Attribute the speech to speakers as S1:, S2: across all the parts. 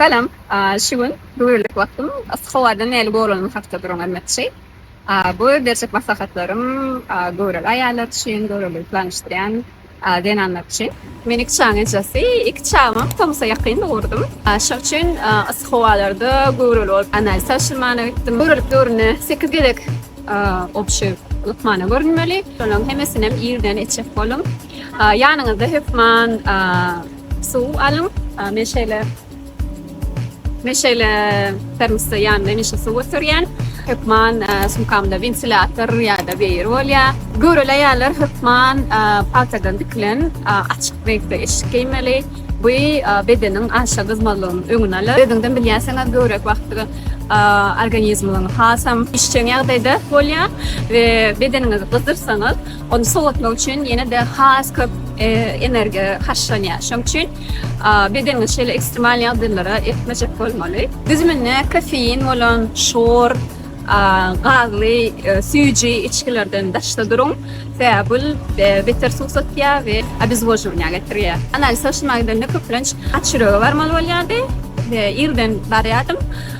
S1: Salam. Şu gün dürlük wagtym yssy howadan näli goranymy hakda duran aýtmakçy. Bu berjek maslahatlarym göwreli aýallar üçin, göwreliligi planyşdyrýan zenanlar üçin. Men iki çagaň ejesi. Iki çagymam tomusa ýakyn dogurdym. Şoň üçin yssy howalarda göwreli bolup analiz tabşyrmana gitdim. Göwrelilik döwründe sekiz gezek obşy lukmana görünmeli. Şolaryň hemmesinem irden etjek boluň. Ýanyňyzda hökman Suw alyň. Men şeýle men şeýle termosda ýanymda hemişe suw göterýän. Hökman sumkamda wentilýator ýa-da weýer bolýar. Göreli aýallar hökman pagtadan tikilen açyk reňkde eşik geýmeli. Bu bedeniň aşa gyzmazlygynyň öňüni alar. Özüňizem bilýänsiňiz, göwrek wagty organizmiň hasam işjeň ýagdaýda bolýar we bedeniňizi gyzdyrsaňyz, Ony sowatmak üçin ýene-de has köp energiýa harçlanýar. Şonuň üçin bedeniňizi şeýle ekstremal ýagdaýlara eltmejek bolmaly. Düzüminde kofein bolan şor, gazly süýji içgilerden daşda duruň, sebäbi bul beter suwsatýar we obezwozhowaniýa getirýär. Analiz tabşyrmaga gidende köplenç aç ýürege barmaly bolýardy we irden barýardym.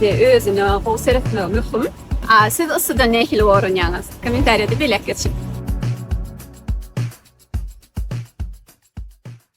S1: Ve özüne gowy seretmegi möhüm. A siz yssydan nähili goranýaňyz? Kommentariýada belläp geçiň!